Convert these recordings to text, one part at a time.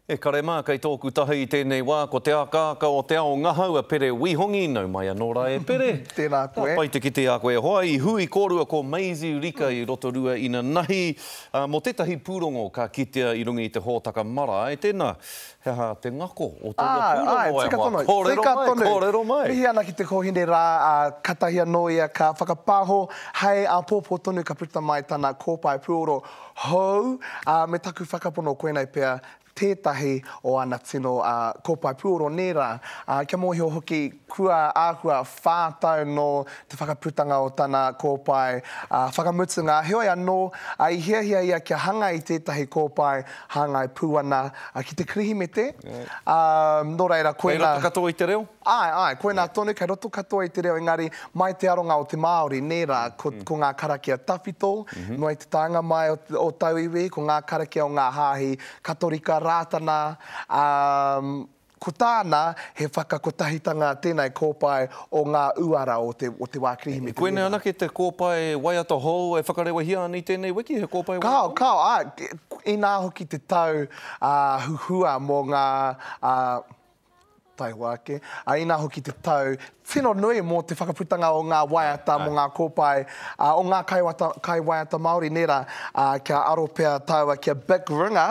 E kare mā, kei tōku taha i tēnei wā, ko te akaaka o te ao ngahau a Pere Wihongi, nau mai anō rā e Pere. Tēnā koe. Ka pai te kite a koe e hoa, i hui kōrua ko Maisie Rika i Rotorua ina nahi, ā, mō tētahi pūrongo ka kitea i runga i te hōtaka marae, tēnā, he aha te ngako o tōna pūrongo e hoa? Kōrero mai, kōrero mai. Mihi ana ki te kōhine rā, ā, katahi anō ia ka whakapāho hai āpōpō tonu ka puta mai tana kōpae pūoro. Hou, ā, me taku whakapono koinei pea tētahi o ana tino kōpae puoro nē rā, ā, kia mōhio hoki kua āhua whā tau nō te whakaputanga o tana kōpae whakamutunga, heoi anō, i hiahia ia kia hanga i tētahi kōpae hāngai pū ana ki te Kirihimete, ā, nō reira koinā. Kei roto katoa i te reo? Āe, āe, koinā tonu, kei roto katoa i te reo engari, mai te aronga o te Māori, nē rā, ko, ko ngā karakia tawhito, noa i te taenga mai o, o tauiwi, ko ngā karakia o ngā hāhi Katorika, Rātana, ā, ko tāna, he whakakotahitanga tēnei kōpae o ngā uara o te, o te wā Kirihimete, nē rā. Koinei anake te kōpae waiata hou e whakarewahia ana i tēnei wiki, he kōpae waiata hou? Kāo, kāo, āe, inā hoki te tau, ā, huhua mō ngā, ā, Taihoa ake. Ā, inā hoki te tau tino nui mō te whakaputanga o ngā waiata mō ngā kōpae o ngā kaiwata, kaiwaiata Māori nē rā, ā, kia aro pea tāua ki a Bic Runga,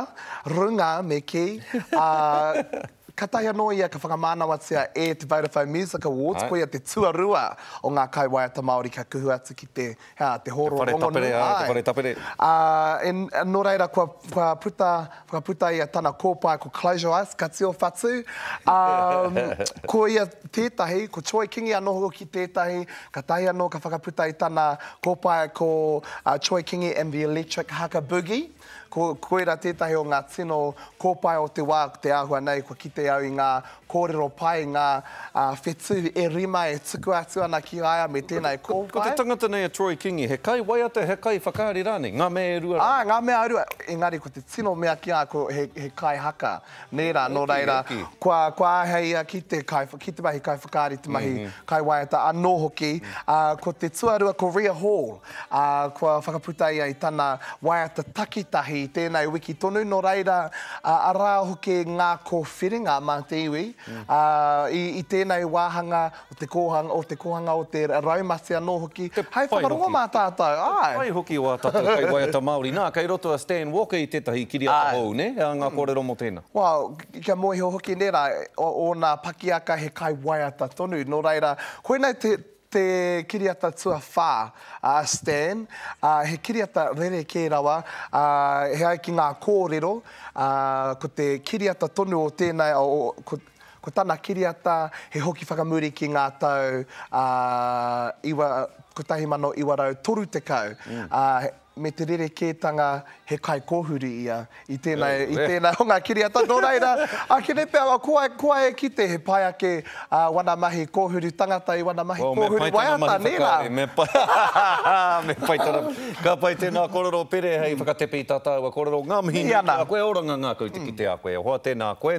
Runga me kī, ā, katahi anō ia ka whakamānawatia e te Vodafone Music Awards, koia te tuarua o ngā kaiwaiata Māori kia kuhu atu ki te. Ā, te hōro rongonui. Te whare tapere, āe, te whare tapere. Ā, nō reira, kua, kua puta, kua puta ia tana kōpae ko Close Your Eyes, ka tio whatu. Ā, ko ia tētahi, ko Troy Kingi anō hoki tētahi, kātahi anō ka whakaputa i tana kōpae ko Troy Kingi and the Electric Haka Boogie. Ko, koira tētahi o ngā tino kōpae o te wā, ko te āhua nei kua kite au i ngā kōrero pai, ngā uh, whetū e rima e tuku atu ana ki a ia me tēnā e kōpae. Ko, ko te tangata nei a Troy Kingi, he kai waiata, he kai whakaari rānei, ngā mea e rua rānei. Ā, ngā mea e rua, engari ko te tino mea ki a, ko he, he kai haka. Nē rā, nō reira, kua āheia ki te mahi kaiwhakaari, te mahi kaiwaiata anō hoki. Ko te tuarua, ko Ria Hall, kua whakaputa ia i tana waiata takitahi i tēnei wiki tonu, nō reira, arā hoki ngā kōwhiringa mā te iwi i tēnei wāhanga o te kōhanga, o te kōhanga, o te raumati anō hoki, hai whakarongo mā tātou, āe. Te pai hoki o ā tātou kaiwaiata Māori. Nā, kei roto a Stan Walker i tētahi kiriata hou, nē? He aha ngā kōrero mō tēnā? Well, kia moe iho hoki nei rā, ōna pakiaka he kaiwaiata tonu, nō reira, koinei te, te kiriata tuawhā a Stan, ā, he kiriata rerekē rawa, ā, e ai ki ngā kōrero, ā, ko te kiriata tonu o tēnei, o, ko, Ko tana kiriata he hoki whakamuri ki ngā tau ā, iwa, 1930, ā, me te rerekētanga he kaikōhuru ia i tēnā, i tēnā o ngā kiriata, nō reira, ā, kene pea, ko, ko a e kite he pai ake ā wana mahi kōhuru tangata i wana mahi kōhuru waiata, nē rā? Well, me pai tana mahi whakaari, me pai, me pai tana, ka pai tēnā kōrero Pere hei whakatepe i tā tāua kōrero, ngā mihi nui ki a koe, oranga ngā kau te kite a koe, e hoa, tēnā koe.